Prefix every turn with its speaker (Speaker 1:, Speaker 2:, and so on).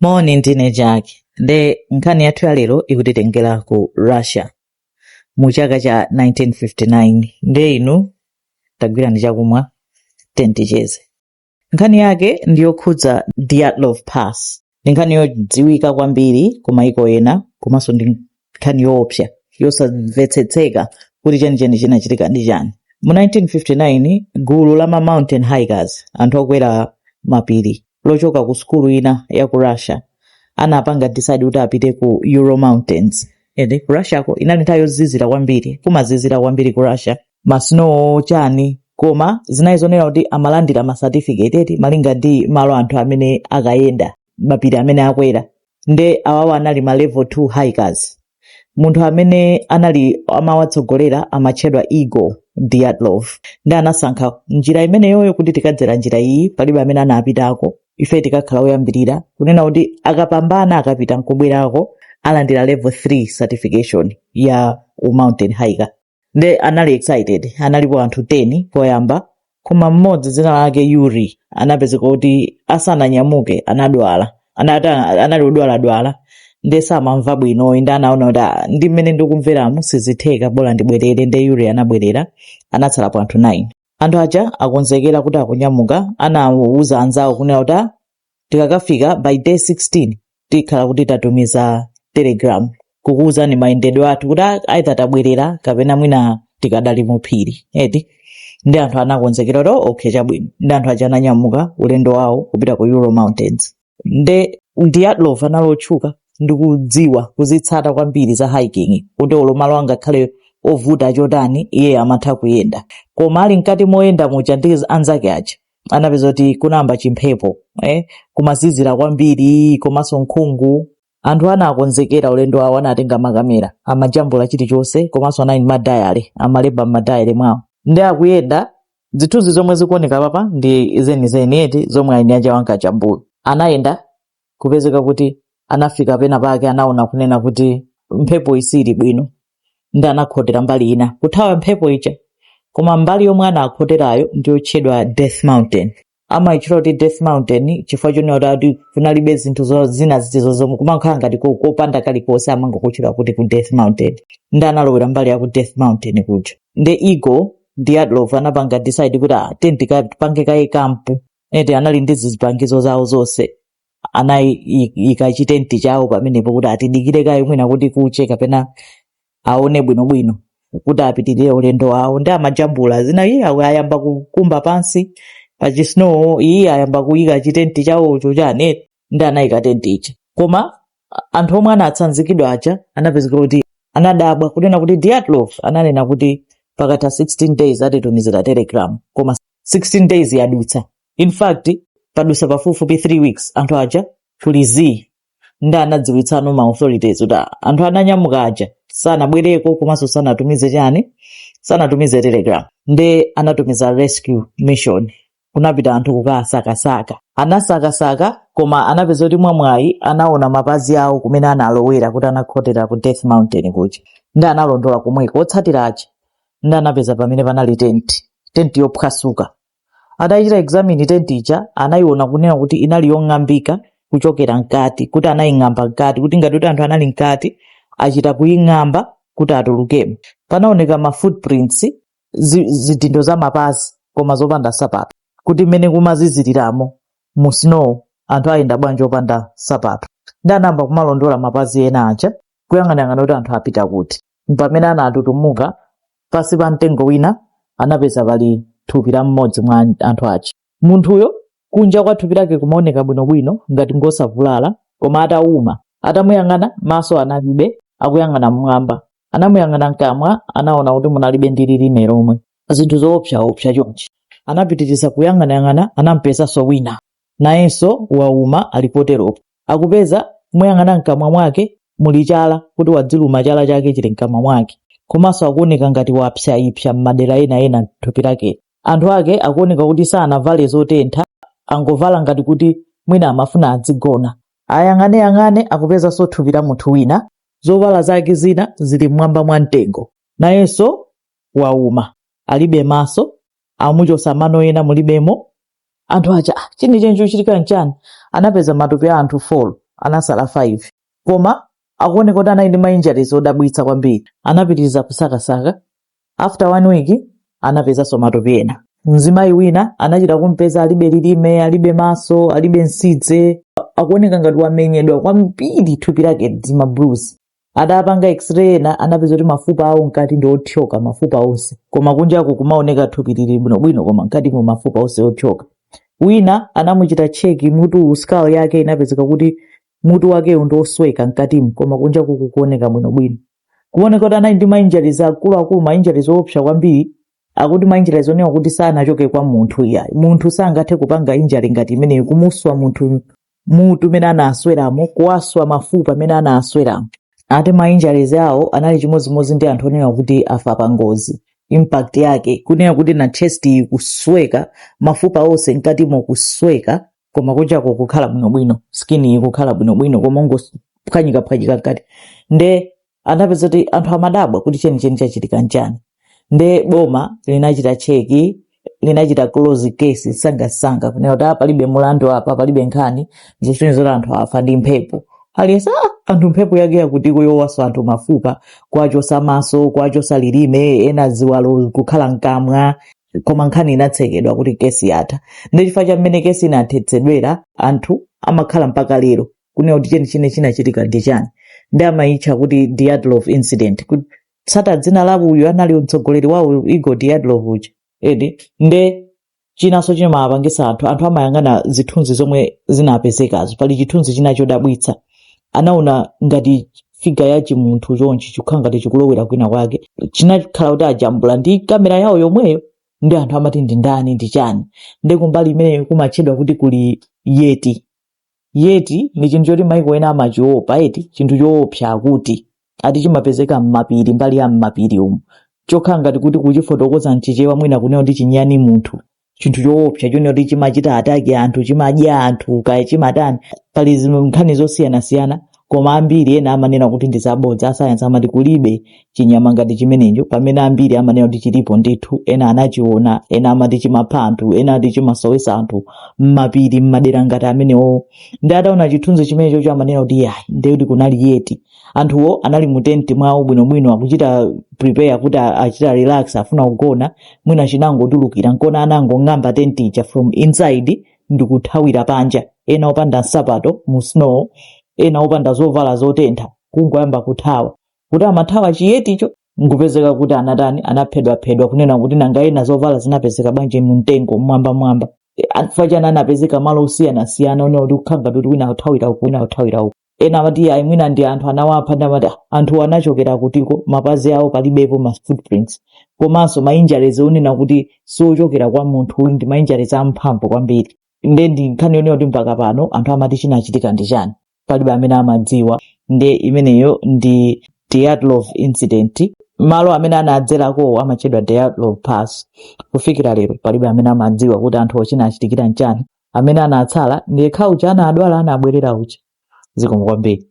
Speaker 1: moni ndine jack nde nkhani yathu ya lero ikutitengera ku russia mu chaka cha 1959 nde inu tagwirani chakumwa ten ticheze nkhani yake ndi yokhudza dyatlov pass ndi nkhani yodziwika kwambiri ku maiko ena komanso ndi nkhani yoopsa yosamvetsetseka kuti chenicheni chinachitika ndi chani mu 1959 gulu la ma mountain hikers anthu okwera mapiri lochoka ku sukulu ina ya ku russia anapanga decide kuti apite ku ural mountains ende ku russia ko inali nthawi yozizira kwambiri kumazizira kwambiri ku russia ma snow chani koma zinali zonena kuti amalandira ma certificate eti malinga ndi malo anthu amene akayenda mapiri amene akwera nde awawa anali ma level 2 hikers munthu amene anali amawatsogolera amatchedwa igor dyatlov nde anasankha njira imeneyoyo kuti tikadzera njira iyi palibe amene anapitako ife tikakhala oyambirira kunena kuti akapambana akapita nkubwerako alandira level 3 certification ya u mountain hiker nde anali excited analipo anthu 10 poyamba koma mmodzi dzina lake yuri anapezeka kuti asananyamuke anadwala anali odwaladwala nde samamva bwino nde anaona kuti "Ah, ndi mmene ndikumveramu sizitheka bola ndibwerere nde yuri anabwerera anatsalapo anthu 9 anthu aja akonzekera kuti akunyamuka anawuza anzawo kunena kuti "Ah, tikakafika by day 16 tikhala kuti tatumiza telegram kukuwuzani mayendedwe athu kuti a- aitha tabwerera kapena mwina tikadali mu phiri eti nde anthu anakonzekera kuti "Oh, okay chabwino nde anthu aja ananyamuka ulendo wawo kupita ku ural mountains nde dyatlov anali otchuka ndi kudziwa kuzitsata kwambiri za hiking kuti olo malo angakhale ovuta chotani iye amatha kuyenda koma ali mkati moyenda muja ndi anzake aja anapeza kuti kunayamba chimphepo eh? kumazizira kwambiri komanso nkhungu anthu anakonzekera ulendo wawo anatenga makamera amajambula chilichonse komanso anali ndi madayale amalemba m'madayale mwawo nde akuyenda zithunzi zomwe zikuoneka apapa ndi zenizeni eti zomwe eni aja ankajambula anayenda kupezeka kuti anafika pena pake anaona kunena kuti mphepo isili bwino nde anakhotera mbali ina kuthawa mphepo ija koma mbali yomwe anakhoterayo ndiyotchedwa death mountain amayitchula kuti death mountain chifukwa chonena kuti kunalibe zinthu zo- zina zitizo zomwe kumakhala ngati ko- kopanda kalikonse amangokutchula kuti ku death mountain nde analowera mbali ya ku death mountain kuja nde igor dyatlov anapanga decide kuti ah, ten tipange kaye kampu eti anali ndi zipangizo zawo zonse anayika chitenti chawo pamenepo kuti atidikire kaye mwina kuti kuche kapena aone bwinobwino kuti apitirire ulendo wawo nde amajambula zina iye awo ayamba kukumba pansi pachisnowo iye ayamba kuyika chitenti chawocho chani ndi anayika tenti ija koma anthu omwe anatsanzikidwa aja anapezeka kuti anadabwa kunena kuti Dyatlov ananena kuti pakatha 16 days atitumizira telegram koma 16 days yadutsa in fact padutsa pafupifupi 3 weeks anthu aja kuli zii ndi anadziwitsano ma authorities kuti ah, anthu ananyamuka aja sanabwereko komanso sanatumize chani sanatumize telegram nde anatumiza rescue mission kunapita anthu kukawasakasaka. Anasakasaka koma anapeza kuti mwamwayi anaona mapazi awo kumene analowera kuti anakhotera ku Death Mountain kuja. Ndi analondola komweko otsatira aja. Ndi anapeza pamene panali tenti, tenti yophwasuka. Atachita examine tenti ija anayiona kunena kuti inali yong'ambika kuchokera mkati kuti anaying'amba mkati kuti ngati kuti anthu anali mkati achita kuying'amba kuti atulukemo. Panaoneka ma footprints zi- zidindo za mapazi koma zopanda nsapato kuti mmene kumaziziriramo mu snow anthu ayenda bwanji opanda nsapato ndi anayamba kumalondola mapazi ena aja kuyang'anayang'ana kuti anthu apita kuti pamene anatutumuka pansi pa mtengo wina anapeza pali thupi la mmodzi mwa anthu aja Munthuyo kunja kwa thupi lake kumaoneka bwinobwino ngati ngosavulala, koma atauma. Atamuyang'ana, maso analibe, akuyang'ana mmwamba. Anamuyang'ana mkamwa, anaona kuti munalibe ndi lilime lomwe. Zinthu zoopsaopsa chonchi. Anapitiriza kuyang'anayang'ana, anampezanso wina. Nayenso wauma ali poteropo. Akupeza, kumuyang'ana mkamwa mwake muli chala kuti wadziluma chala chake chili mkamwa mwake. Komanso akuoneka ngati wapsaipsa m'madera ena ena thupi lakeli. Anthu ake akuoneka kuti sanavale zotentha, angovala ngati kuti mwina amafuna adzigona. Ayang'aneyang'ane akupezanso thupi la munthu wina, zovala zake zina zili m'mwamba mwa mtengo. Nayenso wauma, alibe maso, amuchosa mano ena mulibemo. Anthu aja, ah, chenicheni chochitika nchani? Anapeza matupi a anthu 4, anasala 5. Koma akuoneka kuti anali ndi ma injuries odabwitsa kwambiri. Anapitiriza kusakasaka. After one week, anapezanso matupi ena. Mzimayi wina anachita kumpeza alibe lilime, alibe maso, alibe nsidze. Akuoneka ngati wamenyedwa kwambiri thupi lake ndi ma bruise. Atapanga x-ray ena anapeza kuti mafupa awo mkati ndi othyoka mafupa onse. Koma kunjaku kumaoneka thupi lili bwinobwino koma mkatimo mafupa onse othyoka. Wina anamuchita check mutuwu, skull yake inapezeka kuti Mutu wakewu ndi wosweka mkatimo koma kunjaku kukuoneka bwinobwino. Kumaoneka kuti anali ndi ma injuries akuluakulu, ma injuries oopsa kwambiri. Akuti ma injuries onena kuti sanachoke kwa munthu iyayi. Munthu sangathe kupanga injury ngati imeneyi, kumuswa munthu mutu mene anasweramo, kuwaswa mafupa mene anasweramo. Ati ma injuries awo anali chimodzimodzi ndi anthu onena kuti afa pa ngozi. Impact yake, kunena kuti na chest kusweka, mafupa onse mkatimo kusweka. koma kunjako kukhala bwinobwino skin ikukhala bwinobwino koma ungophwanyika phwanyika mkati nde anapeza kuti anthu amadabwa kuti chenicheni chachitika nchani nde boma linachita cheki linachita close case msangamsanga kunena kuti "Ah, palibe mulandu apa palibe nkhani zikusonyeza kuti anthu afa ndi mphepo aliyense "Ah, anthu mphepo yake yakuti yowaswa anthu mafupa kuwachotsa maso kuwachotsa lilime ena ziwalo kukhala mkamwa koma nkhani inatsekedwa kuti kesi yatha ndi chifukwa cha mmene kesi inathetsedwera anthu amakhala mpaka lero kunena kuti chenicheni chinachitika ndi chani ndi amayitcha kuti Dyatlov incident kutsata dzina la uyu anali mtsogoleri wawo igor Dyatlov uja edi nde chinanso chimawapangitsa anthu anthu amayang'ana zithunzi zomwe zinapezekazo pali chithunzi china chodabwitsa anaona ngati figa ya chimunthu chonchi chikukhala ngati chikulowera kwina kwake chinakhala kuti ajambula ndi kamera yawo yomweyo ndi anthu amati ndi ndani ndi chani ndi kumbali imeneyo kumatchedwa kuti kuli yeti yeti ndi chinthu choti maiko ena amachiopa eti chinthu choopsa akuti ati chimapezeka m'mapiri mbali ya m'mapiri umu chokhala ngati kuti kuchifotokoza mchichewa mwina kunena kuti chinyani munthu chinthu choopsa chonena kuti chimachita ataki anthu chimadya anthu kaya chimatani pali zinthu nkhani zosiyanasiyana koma ambiri ena amanena kuti ndi zabodza asayansi amati kulibe chinyama ngati chimenecho pamene ambiri amanena kuti chilipo ndithu ena anachiona ena amati chimapha anthu ena ati chimasowetsa anthu mmapiri mmadera ngati amenewo ndi ataona chithunzi chimenecho amanena kuti yayi ndekuti kunali yeti anthuwo anali mu tenti mwawo bwinobwino akuchita prepare kuti a- achita relax afuna kugona mwina chinangotulukira nkona anangong'amba tenti ija from inside ndikuthawira panja ena opanda nsapato mu snow ena opanda zovala zotentha kungoyamba kuthawa kuti amathawa chiyeticho nkupezeka kuti anatani anaphedwaphedwa kunena kuti nanga ena zovala zinapezeka bwanji mu mtengo mwambamwamba fachana anapezeka malo osiyanasiyana onena kuti kukhala ngati wina akuthawira uku wina akuthawira uku ena amati iyayi mwina ndi anthu anawapha ndi amati "Ah, anthuwo anachokera kutiko mapazi awo palibepo ma footprints komanso ma injuries onena kuti si ochokera kwa munthu uyu ndi ma injuries amphamvu kwambiri nde ndi nkhani yonena kuti mpaka pano anthu amati chinachitika ndi chani palibe amene amadziwa nde imeneyo ndi Dyatlov incident malo amene anadzerakowo amatchedwa Dyatlov pass kufikira lero palibe amene amadziwa kuti anthuwo chinachitikira nchani amene anatsala ndi yekha uja anadwala anabwerera uja zikomo kwambiri